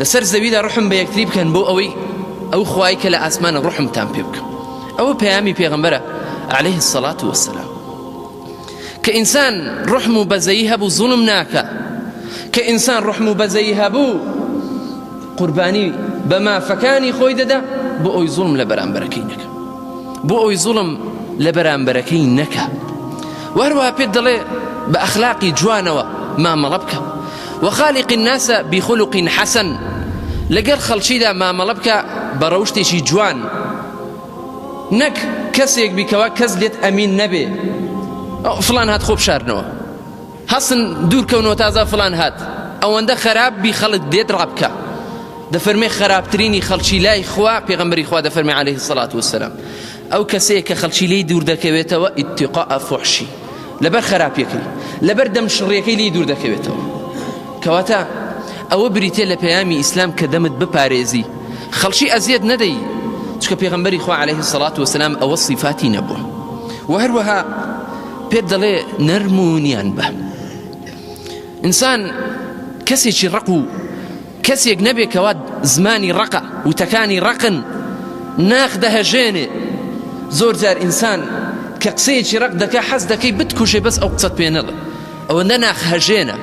لەسەر زەویدا ڕحم بە یەکتری بکەن بۆ ئەوەی ئەو خوای کە لە ئاسمانە ڕحمتان پێ بکەم ئەوە پەیامی پێغمبەرە عليه الصلاة والسلام کە ئینسان ڕحم و بەزەیی هەبوو زوڵم ناکە کە ئینسان ڕحم و بەزەیی هەبوو قوربانی بە مافەکانی خۆی دەدا بۆ ئەوی زوڵم لە بەرامبەرەکەی نەکە بۆ ئەوی زوڵم لە بەرامبەرەکەی نەکە وەروە پێت دەڵێ بە ئەخلاقی جوانەوە مامەڵە بکە وخالق الناس بخلق حسن لەگەر خەڵکیدا مامەڵە بکە بە ڕەوشتێکی جوان نەک کەسێک بی کەوا کەس لێت ئەمین نەبێ فلان هات خۆ بشارنەوە هەسن دوور کەونەوە تازا فلان هات ئەوەندە خراپ بی خەڵک دێت ڕابکە دەفەرمێ خراپترینی خەڵکی لای خوا پێغمبەری خوا دەفەرمی عليه الصلاة والسلام ئەو کەسەیە کە خەڵکی لی دوور دەکەوێتەوە اتقاء فحشی لەبەر خراپیەکەی لەبەر دەم شڕیەکەی لی دوور دەکەوێتەوە کەواتە ئەوە بریتە لە پەیامی ئیسلام کە دەمت بپارێزی خەڵکی ئەزیەت نەدەی چکە پێغمبەری خوا عليه سەڵات وسلام ئەوە صفاتی نەبوو و هەروەها پێت دەڵێ نەرمونیان بە ئینسان کەسێکی ڕق و کەسێک نەبێ کەوا زمانی ڕەقە، وتەکانی ڕەقن، ناخ دەهەژێنێ. زۆر جار ئینسان کە قسەیەکی ڕەق دەکا حەز دەکەی بتکوژێ بەس ئەو قسەت پێ نەڵێ. ئەوەندە ناخ هەژێنە.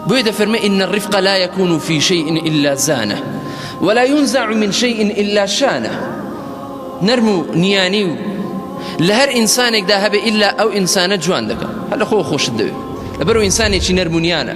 بۆیە دەفەرمێ ان الرفق لا یکون فی شیء الا زانه ولا ینزع من شیء الا شانه نەرم و نیانی و لە هەر ئینسانێکدا هەبێ ئیلا ئەو ئینسانە جوان دەکا. هەر لە خۆوە خۆشت دەوێ. لەبەرئەوە ئینسانێکی نەرم و نیانە.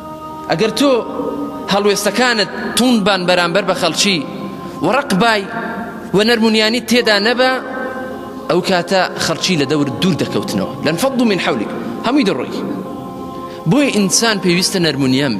ئەگەر تۆ هەڵوێستەکانت توند بان بەرامبەر بە خەڵکی و ڕق بای و نەرمونیانی تێدا نەبا ئەو کاتە خەڵکی لە دەور دوور دەکەوتنەوە لەن فەض من حولک هەمووی دەڕۆی بۆی ئینسان پێویستە نەرمونیان بێ